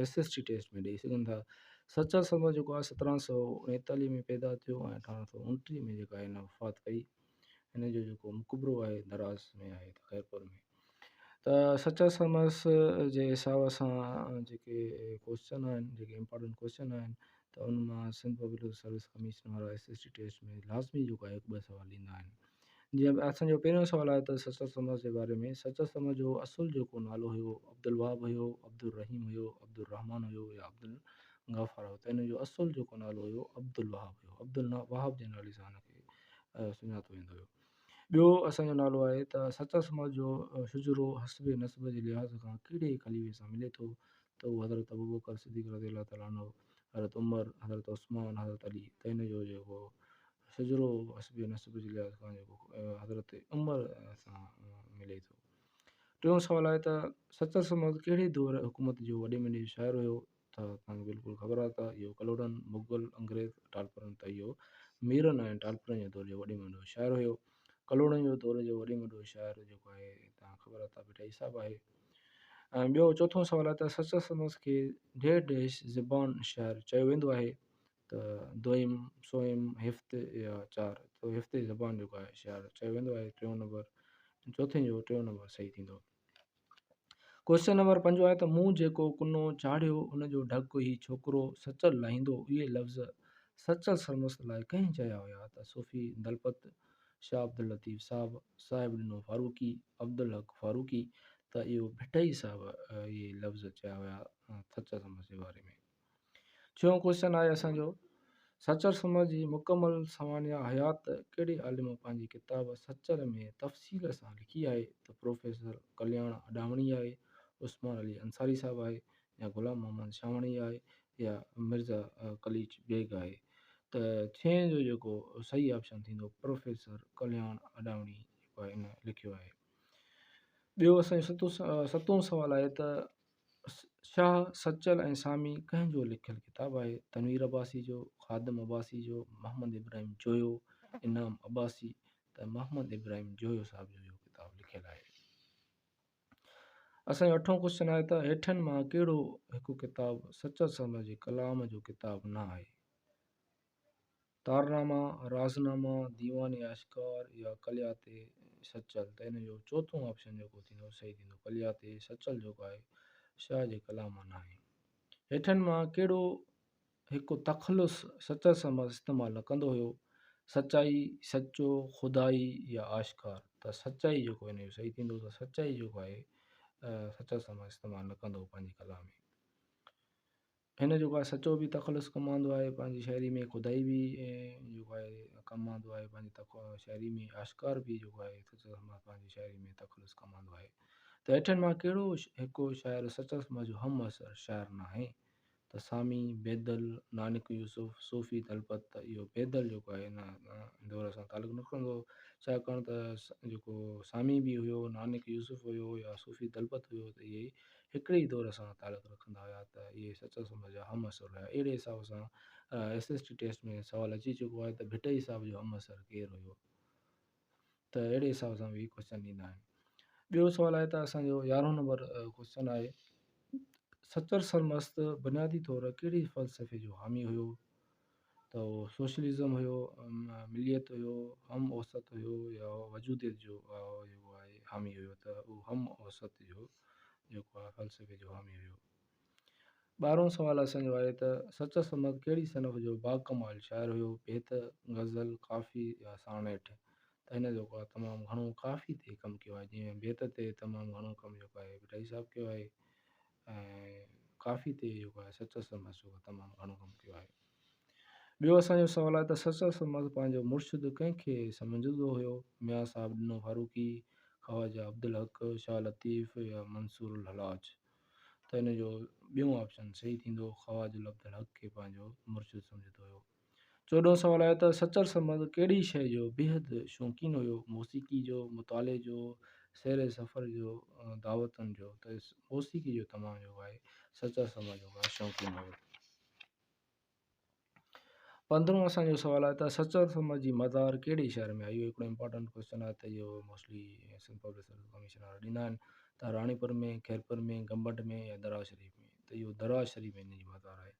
S S T test ۾ ڏئي سگهن ٿا. سچل سرما جيڪو آء سترهن سؤ اڻيتاليهه ۾ پيدا ٿيو ۽ اٺارهن سؤ اڻٽيهه ۾ جيڪا هن وفات ڪئي هن جو جيڪو مقبرو آهي دراز ۾ آهي ته خيرپور ۾ ته سچل سرمس جي حساب سان جيڪي ڪوشچن آهن جيڪي امپارٽنٽ ڪوشچن آهن ته ان مان سنڌ پبلڪ سروس ڪميشن وارا ايس ايس ٽي ٽيسٽ ۾ لازمي جيڪو آهي هڪ ٻه سوال ڏيندا آهن جيئن ته اسان جو پهريون سوال آيو ته سچل سمرس جي باري ۾ سچل سمر جو اصل جيڪو نالو هيو عبدالوهاب هيو عبدالرحيم هيو عبدالرحمان هيو يا عبدالغفار هيو ته هن جو اصل جيڪو نالو هيو عبدالوهاب هيو عبدالوهاب جي نالي سان هن کي سڃاتو ويندو هيو ٻيو اسان جو نالو آهي ته سچل سمر جو شجرو حسب نسب جي لحاظ کان ڪهڙي خليفي سان ملي ٿو ته هو حضرت ابوبڪر صديق رضي الله تعالٰي عنه، حضرت عمر، حضرت عثمان، حضرت علي ته هن جو جيڪو شجرو حسب نسب جي لحاظ کان جيڪو حضرت عمر سان ملي ٿو. ٽيون سوال آهي ته سچل سمل ڪهڙي دؤر حڪومت جو وڏي ميني جو شاعر هيو ته توهان کي بلڪل خبر آهي ته اهو ڪلهوڙن، مغل، انگريز، ٽالپرن ته اهو ميرن ۽ ٽالپرن جي دؤر جو وڏي ميني جو شاعر هيو. ڪلهوڙن جو دؤر جو وڏي ميني جو شاعر جيڪو آهي توهان کي خبر آهي ته ڀٽائي صاحب آهي. ٻيو چوٿون سوال آهي ته سچل سمس کي ڍير ڍيش زبان شاعر چيو ويندو آهي ته دوئم سوئم هفت يا چار تو هفتي زبان جيڪو آهي شاعر چيو ويندو آهي ٽيون نمبر چوٿين جو ٽيون نمبر صحيح ٿيندو ڪوشچن نمبر پنجو آهي ته مون جيڪو ڪنو چاڙهيو ان جو ڍڪ هي ڇوڪرو سچل لاهيندو اهي لفظ سچل سرمست لاء ڪنهن چيا هيا ته صوفي دلپت شاهه عبداللطيف صاحب صاحب ڏنو فاروقي، عبدالحق فاروقي، ته اهو ڀٽائي صاحب اهي لفظ چيا هيا سچر سمج جي باري ۾. ڇهون ڪوشچن آهي اسان جو سچر سمج جي مڪمل سوانح حيات ڪهڙي عالم پنهنجي ڪتاب سچر ۾ تفصيل سان لکي آهي ته پروفيسر ڪلياڻ اڏاوڻي آهي، عثمان علي انصاري صاحب آهي، يا غلام محمد شاهواڻي آهي يا مرزا قليچ بيگ آهي ته ڇهين جو جيڪو صحيح آپشن ٿيندو پروفيسر ڪلياڻ اڏاوڻي جيڪو آهي ان لکيو آهي ٻيو اسان جو ستون سوال آهي ته شاهه سچل ۽ سامي ڪنهن جو لکيل ڪتاب آهي تنوير عباسي جو خادم عباسي جو محمد ابراهيم جويو انعام عباسي ته محمد ابراهيم جويو صاحب جو اهو ڪتاب لکيل آهي اسان جو اٺون ڪوشچن آهي ته هيٺين مان ڪهڙو هڪ ڪتاب سچل سرميء جي ڪلام جو ڪتاب نه آهي؟ تارناما، رازناما، ديوان آشڪار يا ڪليات سچل؟ ته ان جو چوٿون آپشن جيڪو ٿيندو صحيح ٿيندو. ڪليات سچل جيڪو آهي شاهه جي ڪلام مان نه آهي. هيٺين مان ڪهڙو هڪ تخلص سچل سمز استعمال نه ڪندو هيو، سچائي، سچو، خدائي يا آشڪار ته سچائي جيڪو هن جو صحيح ٿيندو ته سچائي جيڪو آهي سچل سمز استعمال نه ڪندو هو پنهنجي ڪلام ۾. هن جيڪو آهي سچو به تخلص ڪم آندو آهي پنهنجي شاعري ۾ خدائي به جيڪو آهي ڪم آندو آهي پنهنجي تخ شاعري ۾ آشڪار به جيڪو آهي سچل سمز پنهنجي شاعري ۾ تخلص ڪم آندو آهي ته هيٺين مان ڪهڙو هڪ شاعر سچل سمز جو همعصر شاعر ناهي ته سامي بيدل، نانڪ يوسف، صوفي تلپت ته اهو بيدل جيڪو آهي ان دور سان تعلق نه رکندو هو ڇاڪاڻ ته جيڪو سامي به هيو، نانڪ يوسف هيو يا صوفي تلپت هيو ته اهي هڪڙي ئي دور سان تعلق رکندا هيا ته اهي سچل سومرا جا همعصر هيا اهڙي حساب سان ايس ايس ٽي ٽيسٽ ۾ سوال اچي چڪو آهي ته ڀٽائي صاحب جو همعصر ڪير هيو؟ ته اهڙي حساب سان به ڪوشچن ايندا آهن ٻيو سوال آهي ته اسان جو يارهون نمبر ڪوشچن آهي سچل سرمست بنيادي طور ڪهڙي فلسفي جو حامي هيو ته اهو سوشلزم هيو مليت هيو هم اوسط هيو يا وجوديت جو حامي هيو ته اهو هم اوسط جو جيڪو آهي فلسفي جو حامي هيو ٻارهون سوال اسان جو آهي ته سچل سمت ڪهڙي صنف جو باڪمال شاعر هيو، بيت، غزل، ڪافي يا ساڻيٺ؟ ته هن جيڪو آهي تمام گهڻو ڪافي تي ڪم ڪيو آهي جنهن ۾ بيت تي تمام گهڻو ڪم جيڪو آهي ڀٽائي صاحب ڪيو آهي ۽ ڪافي تي جيڪو آهي سچل سمت جيڪو آهي تمام گهڻو ڪم ڪيو آهي. ٻيو اسان جو سوال آهي ته سچل سمت پنهنجو مرشد ڪنهن کي سمجهندو هيو، ميان صاحب ڏنو فاروقي، خواجه عبدالحق، شاهه لطيف يا منصور الحلاج؟ ته ان جو ٻيون آپشن صحيح ٿيندو، خواجه عبدالحق کي پنهنجو مرشد سمجهندو هيو. چوڏهون سوال آهي ته سچل سمد ڪهڙي شيء جو بيحد شوقين هيو، موسيقي جو، مطالعي جو، سير سفر جو، دعوتن جو؟ ته موسيقي جو تمام جيڪو آهي سچل سمد جيڪو آهي شوقين هيو. پندرهون اسان جو سوال آهي ته سچل سمت جي مزار ڪهڙي شهر ۾ آهي اهو هڪڙو امپارٽنٽ ڪويسچن آهي ته اهو mostly Sindh public service commission وارا ڏيندا آهن ته راڻيپور ۾ خيرپور ۾ گمبٽ ۾ يا درياء شريف ۾ ته اهو درياء شريف ۾ هن جي مزار آهي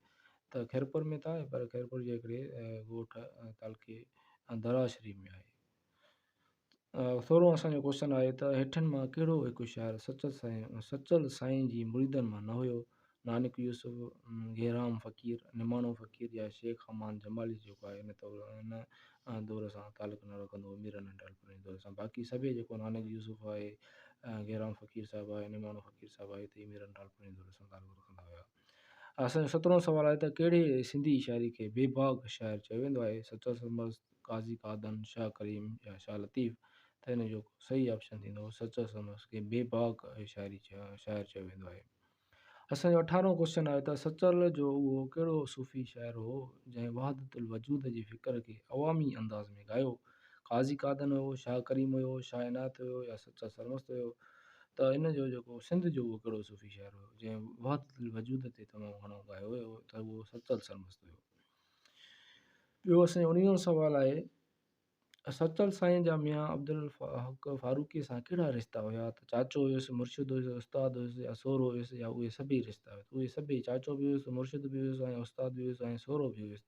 ته خيرپور ۾ ته آهي پر خيرپور جي هڪڙي ڳوٺ تعلقي درياء شريف ۾ آهي سورهون اسان جو ڪوشچن آهي ته هيٺين مان ڪهڙو هڪ شاعر سچل سائين سچل سائين جي مريدن مان نه هيو نانڪ يوسف گهيرام فقير نماڻو فقير يا شيخ امان جمالي جيڪو آهي ان طور ان دور سان تعلق نه رکندو هو ميرن ۽ ٽالپرن جي دور سان باقي سڀيئي جيڪو نانڪ يوسف آهي گهيرام فقير صاحب آهي نماڻو فقير صاحب آهي هي ميرن ٽالپرن جي دور سان تعلق رکندا هيا اسان جو سترهون سوال آهي ته ڪهڙي سنڌي شاعري کي بي باڪ شاعر چيو ويندو آهي؟ سچل سرمست، قاضي قادن، شاهه ڪريم يا شاهه لطيف؟ ته هن جو صحيح آپشن ٿيندو سچل سرمست کي بي باڪ شاعري شاعر چيو ويندو آهي. اسان جو اٺارهون ڪوشچن آهي ته سچل جو اهو ڪهڙو صوفي شاعر هو جنهن وحدت الوجود جي فڪر کي عوامي انداز ۾ ڳايو؟ قاضي قادن هيو، شاهه ڪريم هيو، شاهه عنايت هيو يا سچا سرمست هيو ته ان جو جيڪو سنڌ جو اهو ڪهڙو صوفي شاعر هيو جنهن وحدت الوجود تي تمام گهڻو ڳايو هيو ته اهو سچل سرمست هيو. ٻيو اسان جو اڻويهون سوال آهي ته سچل سائين جا ميان عبدالحق فاروقي سان ڪهڙا رشتا هيا ته چاچو هيس مرشد هيس استاد هيس يا سهرو هيس يا اهي سڀئي رشتا هيس اهي سڀئي چاچو به هيس مرشد به هيس ۽ استاد به هيس ۽ سهرو به هيس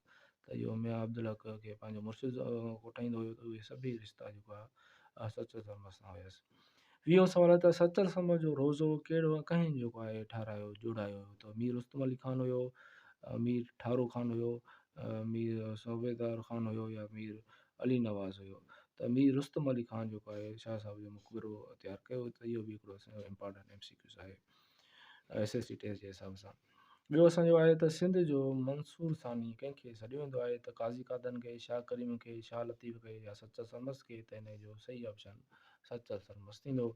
ته اهو ميان عبدالحق کي پنهنجو مرشد ڪوٺائيندو هيو ته اهي سڀئي رشتا جيڪو آهي اها سچل سرمد سان هيس. ويهون سوال آهي ته سچل سرمد جو روزو ڪهڙو ۽ ڪنهن جيڪو آهي ٺهرايو، جوڙايو، هيو ته مير رستم علي خان هيو، مير ٺارو خان هيو، مير صوبيدار خان هيو يا مير علي نواز هيو ته مير رستم علي خان جيڪو آهي شاهه صاحب جو مقبرو تيار ڪيو ته اهو به هڪڙو اسان جو امپارٽنٽ ايم سي ڪيوز آهي ايس ايس سي ٽيسٽ جي حساب سان. ٻيو اسان جو آهي ته سنڌ جو منصور ثاني ڪنهن کي سڏيو ويندو آهي ته قاضي قادن کي، شاهه ڪريم کي، شاهه لطيف کي يا سچل سرمست کي ته انهيء جو صحيح آپشن سچل سرمست ٿيندو.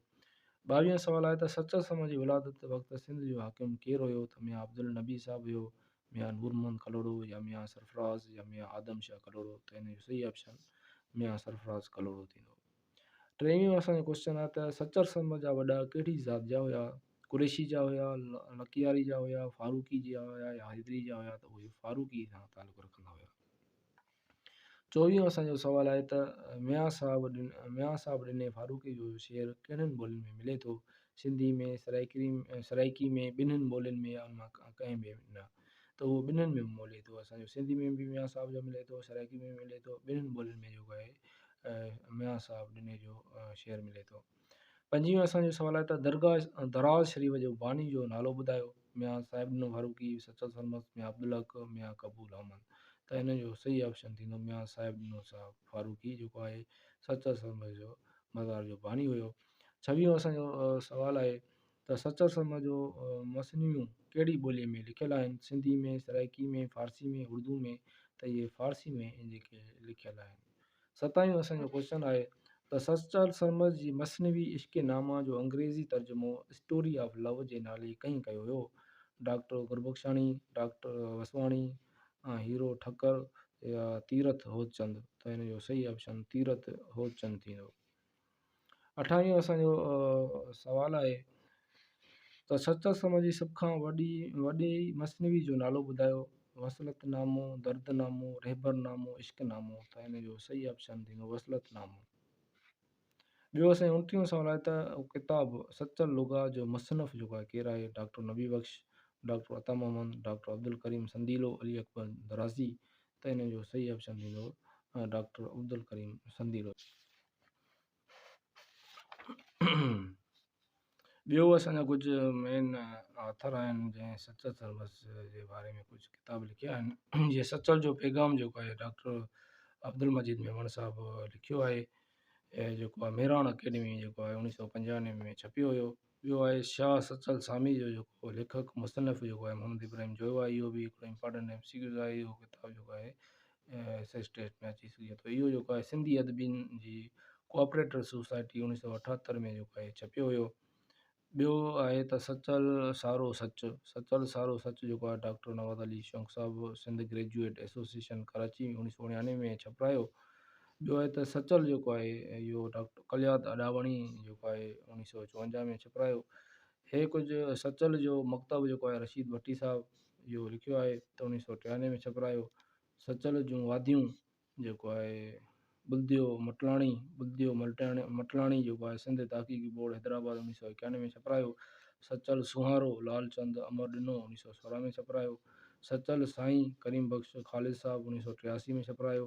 ٻاويهون سوال آهي ته سچل سرمست جي ولادت وقت سنڌ جو حاڪم ڪير هيو ته ميان عبدالنبي صاحب هيو، ميان نور محمد ڪلهوڙو يا ميان سرفراز يا ميان آدم شاهه ڪلهوڙو ته انهيء جو صحيح آپشن ميان سرفراز ڪلهوڙو ٿيندو. ٽيون اسان جو ڪوسچن آهي ته سچر سرمد جا وڏا ڪهڙي ذات جا هيا؟ قريشي جا هيا، لڪياري جا هيا، فاروقي جا هيا يا حيدري جا هيا ته اهي فاروقي سان تعلق رکندا هيا. چوويهون اسان جو سوال آهي ته ميان صاحب ميان صاحب ڏني فاروقي جو شعر ڪهڙين ٻولين ۾ ملي ٿو؟ سنڌي ۾ سرائڪي سرائڪي ۾ ٻنهن ٻولين ۾ يا ان مان ڪنهن به نه ته اهو ٻنهن ۾ ملي ٿو اسان جو سنڌي ۾ به ميان صاحب جو ملي ٿو سرائڪي ۾ به ملي ٿو ٻنهن ٻولين ۾ جيڪو آهي ميان صاحب ڏني جو شعر ملي ٿو پنجيون اسان جو سوال آهي ته درگاهه دراز شريف جو باني جو نالو ٻڌايو ميان صاحب ڏنو فاروقي سچل سرمست ميان عبدالحق ميان قبول احمد ته هن جو صحيح آپشن ٿيندو ميان صاحب ڏنو صاحب فاروقي جيڪو آهي سچل سرمست جو مزار جو باني هيو ڇويهون اسان جو سوال آهي ته سچل شرما جو مثنويون ڪهڙي ٻوليء ۾ لکيل آهن؟ سنڌي ۾، سرائيڪي ۾، فارسي ۾، اردو ۾، ته اهي فارسي ۾ جيڪي لکيل آهن. ستايهون اسان جو ڪوشچن آهي ته سچل شرما جي مثنوي عشق نامه جو انگريزي ترجمو اسٽوري آف لو جي نالي ڪنهن ڪيو هيو؟ ڊاڪٽر گربخشاڻي، ڊاڪٽر وسواڻي، هيرو ٺڪر يا تيرٿ هوتچند؟ ته هن جو صحيح آپشن تيرٿ هوتچند ٿيندو. اٺائين اسان جو سوال آهي ته سچل سرما جي سڀ کان وڏي وڏي مثنوي جو نالو ٻڌايو وصلت نامو درد نامو رهبر نامو عشق نامو ته هن جو صحيح آپشن ٿيندو وصلت نامو ٻيو اسان جو انٽيهون سوال آهي ته ڪتاب سچل لغا جو مصنف جو آهي ڪير آهي doctor Nabi Bakhsh doctor Ata Muhammad doctor Abdulkarim Sandilo Ali Akbar Darazi ته ان جو صحيح آپشن ٿيندو ڊاڪٽر عبدالڪريم سنديلو. ٻيو اسان جا ڪجهه مين آٿر آهن جنهن سچل سرمست جي باري ۾ ڪجهه ڪتاب لکيا آهن جيئن سچل جو پيغام جيڪو آهي ڊاڪٽر عبدالمجيد ميمڻ صاحب لکيو آهي جيڪو ميراڻ اڪيڊمي جيڪو آهي اوڻيهه سؤ پنجاهه ۾ ڇپيو هيو ٻيو آهي شاهه سچل ساميء جو جيڪو ليکڪ مصنف جيڪو آهي محمد ابراهيم جويو آهي اهو به هڪڙو امپارٽنٽ ايم سي ڪيوز آهي اهو ڪتاب جيڪو آهي ايس ايس ٽيسٽ ۾ اچي سگهي ٿو اهو جيڪو آهي سنڌي ادبين جي ڪوآپريٽر سوسائٽي اڻيهه سؤ اٺهتر ۾ جيڪو آهي ڇپيو هيو ٻيو آهي ته سچل سارو سچ سچل سارو سچ جيڪو آهي ڊاڪٽر نواز علي شونق صاحب سنڌ گريجوئيٽ ايسوسيئيشن ڪراچي اڻيهه سؤ اڻيانوي ۾ ڇپرايو ٻيو آهي ته سچل جيڪو آهي اهو ڊاڪٽر ڪليات اڏاوڻي جيڪو آهي اوڻيهه سؤ چونجاهه ۾ ڇپرايو هي ڪجهه سچل جو مڪتب جيڪو آهي رشيد ڀٽي صاحب اهو لکيو آهي ته اوڻيهه سؤ ٽيانوي ۾ ڇپرايو سچل جون واديون جيڪو آهي بلديو مٽلاڻي بلديو ملٽاڻي مٽلاڻي جيڪو آهي سنڌ تحقيقي بورڊ حيدرآباد اوڻيهه سؤ اڪيانوي ۾ ڇپرايو سچل سونهارو لال چند امر ڏنو اوڻيهه سؤ سورهن ۾ ڇپرايو سچل سائين ڪريم بخش خالد صاحب اوڻيهه سؤ ٽياسي ۾ ڇپرايو